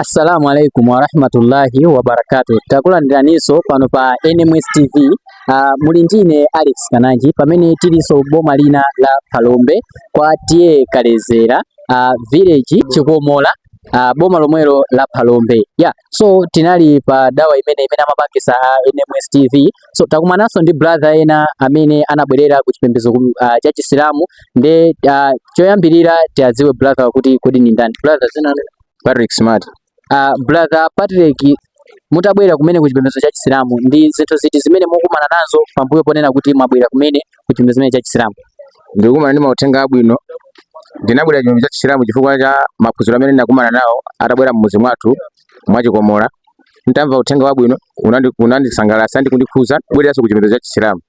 assalamu alaikum warahmatullahi wabarakatu takulandiraninso pano pa nms tv uh, ah, muli ndine alex kananji pamene tilinso boma lina la phalombe kwa T/A Kaledzera uh, village chikomola uh, boma lomwelo la phalombe yeah. so tinali pa dawa imene imene amapangisa a nms tv So takumananso ndi brother ena amene anabwerera ku chipembedzo uh, cha Chisilamu ndiye uh, choyambirira tiadziwe brother kuti kodi ni ndani brother dzina Patrick Smart uh, brother Patrick mutabwerera kumene ku chipembedzo cha Chisilamu ndi zinthu ziti zimene mukumana nazo pambuyo ponena kuti mwabwerera kumene ku chipembedzo chimene cha Chisilamu ndikukumana ndi mauthenga abwino ndinabwera chipembedzo cha Chisilamu chifukwa cha maphunziro amene ndinakumana nawo atabwera mmudzi mwathu mwa chikomola ntamva uthenga wabwino unandisangalatsa ndi kundikhuza kubwereranso ku chipembedzo cha chisilamu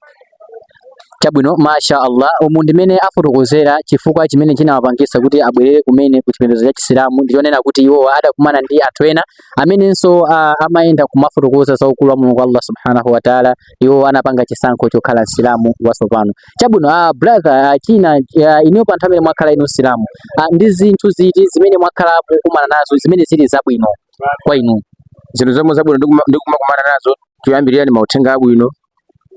chabwino masha allah umu ndimene afotokozera chifukwa chimene chinawapangisa kuti abwerere kumene ku chipembedzo cha chisilamu ndichonena kuti iwo adakumana ndi anthu ena amenenso uh, amayenda kumafotokoza za ukulu wa mulungu allah subhanahu wataala iwo anapanga chisankho chokhala Msilamu watsopano. Chabwino a ah, brother a ah, China a, ah, inuyo pa nthawi imene mwakhala inu Msilamu ndi zinthu ziti zimene mwakhala mukumana nazo zimene zili zabwino kwa inu? Zinthu zomwe zabwino ndikumakumana nazo choyambirira ni mauthenga abwino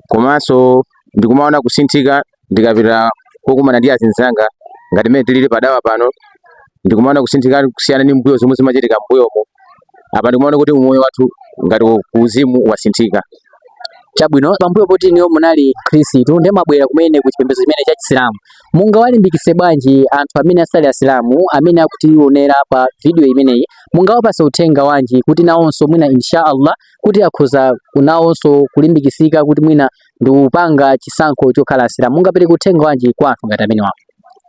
komanso ndikumaona kusinthika ndikapita kokumana ndi azinzanga ngati mmene tilili padawa pano ndikumaona kusinthika kusiyana ndi mbuyo zomwe zimachitika mbuyomo apa ndikumaona kuti umoyo wathu ngati kuuzimu wasinthika chabwino pambuyo poti inuyo munali khristu ndiye mwabwera kumene ku chipembedzo chimene cha chisilamu mungawalimbikitse bwanji anthu amene asali asilamu amene akutionera pa video imeneyi mungawapatse uthenga wanji kuti nawonso mwina insha allah kuti akhoza nawonso kulimbikitsika kuti mwina ndi kupanga chisankho chokhala asilamu mungapereke uthenga wanji kwa anthu ngati amenewa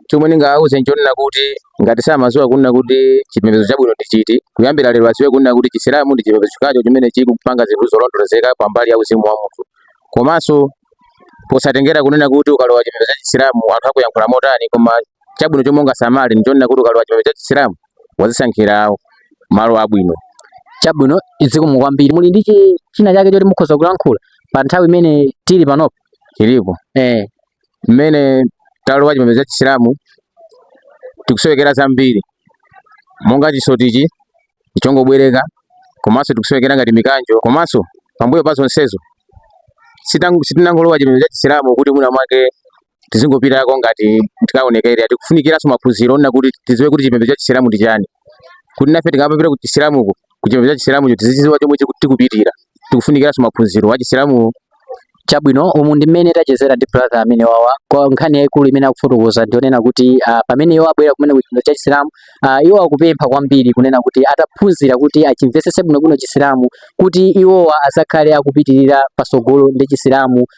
chomwe ndingawauze nchonena kuti ngati samadziwa kunena kuti chipembedzo chabwino ndi chiti kuyambira lero adziwe kunena kuti chisilamu ndi chipembedzo chokhacho chimene chikupanga zinthu zolondolozeka pa mbali ya uzimu wa munthu komanso posatengera kunena kuti ukalowa chipembedzo cha chisilamu anthu akuyankhula motani koma chabwino chomwe ungasamale nchonena kuti ukalowa chipembedzo cha chisilamu wadzisankhira malo abwino chabwino zikomo kwambiri muli ndi chi- china chake choti mukhoza kulankhula pa nthawi imene tili panopo chilipo eh mmene talowa chipembedzo cha chisilamu tikusowekera zambiri monga chisotichi nchongobwereka komanso tikusowekera ngati mikanjo komanso pambuyo pa zonsezo sitangu- sitinangolowa chipembedzo cha chisilamu kuti mwina mwake tizingopitako ngati tikaonekera tikufunikiranso maphunziro onena kuti tiziwe kuti chipembedzo cha chisilamu ndi chani kuti nafe tikamapita ku chisilamuko ku chipembedzo cha chisilamucho tizichiziwa chomwe chiku- tikupitira tikufunikiranso maphunziro a chisilamu chabwino umu ndi mmene tachezera ndi brother ameneyu wawa nkhani yayikulu imene akufotokoza ndionena kuti ah, pamene iwo abwera kumene ku chipembedzo cha chisilamu ah, iwo akupempha kwambiri kunena kuti ataphunzira kuti achimvetsetse bwinobwino chisilamu kuti iwowa azakhale akupitirira pasogolo ndi chisilamu